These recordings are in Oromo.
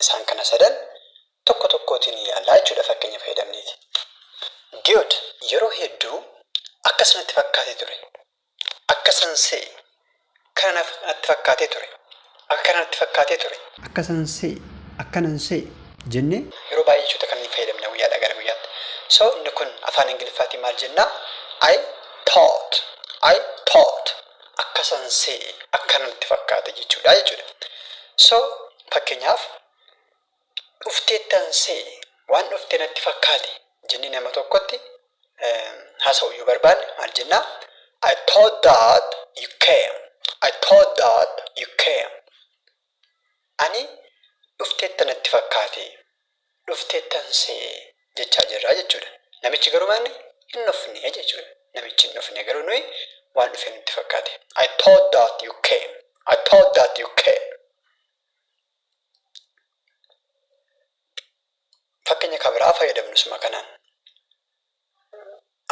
Isaan kana sadan tokko tokkootiin ilaalla jechuudha fakkeenya fayyadamneeti. Geod yeroo hedduu akkas natti fakkaatee ture. Akkasan se'e. Kana natti fakkaatee ture. Akka kana natti fakkaatee ture. Akkasan se'e. Akkanan se'e. Jennee yeroo baay'ee jechoota kanneen fayyadamna guyyaadhaa gara guyyaatti. So inni kun afaan Ingiliffaatiin maal jennaa? I thought. I thought. akkasan se'e akkanan itti fakkaate jechuudha jechuudha. So fakkeenyaaf dhufteettan se'e waan dhufte natti fakkaate jennee nama tokkotti haasa'uu yoo barbaanne maal jenna? I thought that you came. I thought that you came. Ani dhufteetta natti fakkaate, dhufteettan se'e jechaa jirra jechuudha. Namichi garuu maalni? Hin dhufne jechuudha. Namichi hin dhufne garuu nuyi waan dhufe nutti fakkaate. I thought that you came. I thought that you came. Fakkeenya kan biraa fayyadamnu suma kanaan.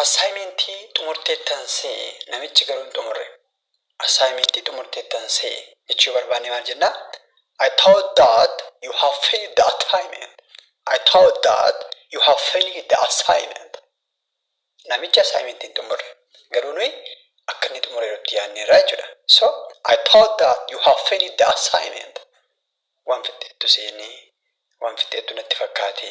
Assaayimentii xumurteettan se'e, namichi garuu hin xumurre. Assaayimentii xumurteettan se'e jechuu yoo barbaanne maal jenna? I thought that you have finished the assignment. I thought that you have finished the assignment. Namichi assaayimentii hin xumurre. Garuu nuyi akka inni xumureeru itti yaadneerra jechuudha. So, I thought that you have finished the assignment. Waan fixxeettu seene, waan fixxeettu natti fakkaate.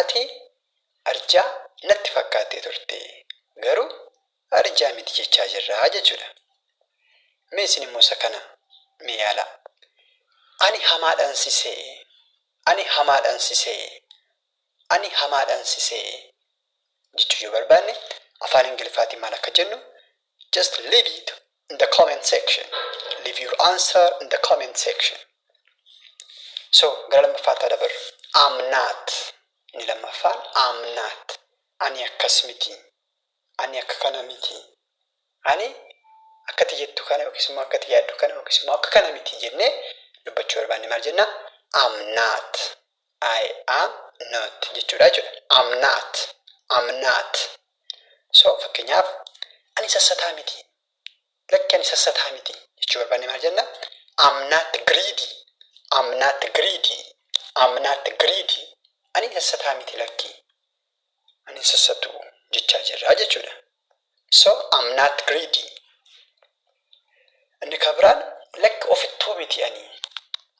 Ati arjaa natti fakkaattee turte garuu arjaa miti jechaa jirra jechuudha. Mee isin immoo isa kana mee yaalaa. Ani hamaadhan si se'e Ani hamaadhan si se'e Ani hamaadhan si se'e jechuu yoo barbaanne afaan ingiliffaatiin maal akka jennu Just leave it in the comment section. Leave your answer in the comment section. So, gara lammaffaatti haa dabarru. I'm not. Inni lammaffaan I'm not. Ani akkas miti. Ani akka kana miti. Ani akkati jettu kana yookiis immoo akkati yaaddu kana yookiis immoo akka kana miti jennee dubbachuu barbaanne maal jenna? I'm not. I am not jechuudha jechuudha. I'm not. I'm not. So fakkeenyaaf ani sassataa miti. Lakki ani sassataa miti jechuu barbaanne maal jenna? I'm not greedy. I'm not greedy. I'm not greedy. Ani sassataa miti lakki. Ani hin sassatu jechaa jirra jechuudha. So I'm not greedy. Inni kan biraan lakki ofittoo miti ani.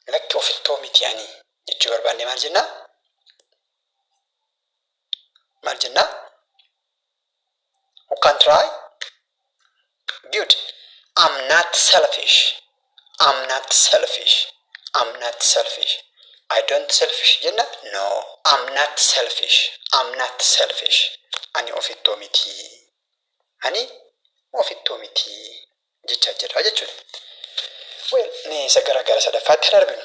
Lakki ofittoo miti ani jechuu barbaanne maal jennaa? Maal jennaa? u can try good I'm not selfish I'm not selfish I'm not selfish I don't selfish jenna no I'm not selfish I'm not selfish ani ofittoo miti ani ofittoo miti jecha jirra jechuudha well mee isa gara gara sadaffaatti hin arginu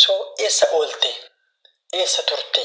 so eessa oolte eessa turte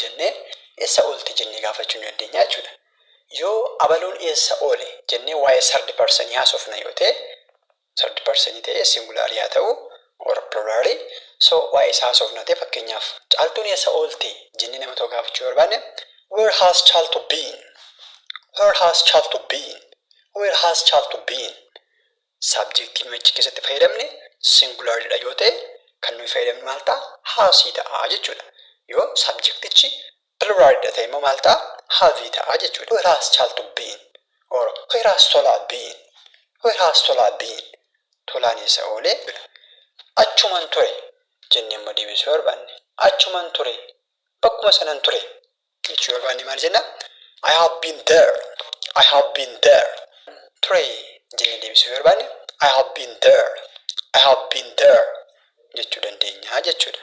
jennee essa oolte jennee gaafachuu ni dandeenya jechuudha. Yoo abaluun eessa oole jennee waa'ee third person haasofna yoo ta'e, third person ta'ee singular yaa ta'u or plural, so waa'ee isaa haasofna ta'e fakkeenyaaf Caaltuun eessa oolte jennee nama tokko gaafachuu yoo barbaanne Where has Chaltu been? Where has Chaltu been? Where has Chaltu been? Saabjektii nuyi achi keessatti fayyadamne singulaarli dha yoo ta'e, kan nuyi fayyadamne maal ta'a? Haasii ta'a jechuu dha. Yoo saabjektichi piluuraali dha ta'e immoo maal ta'a? Haavii ta'a jechuu dha. Where has Chaltu been? Or where has Tola been? Where has Tola been? Tolaan eessa oole? Achuman ture jennee immoo deebisuu barbaanne. Achuman ture. Bakkuma sanan ture. jechuu barbaanne maal jenna? I have been there. I have been there. Ture jennee deebisuu yoo barbaanne I have been there. I have been there jechuu dandeenya jechuudha.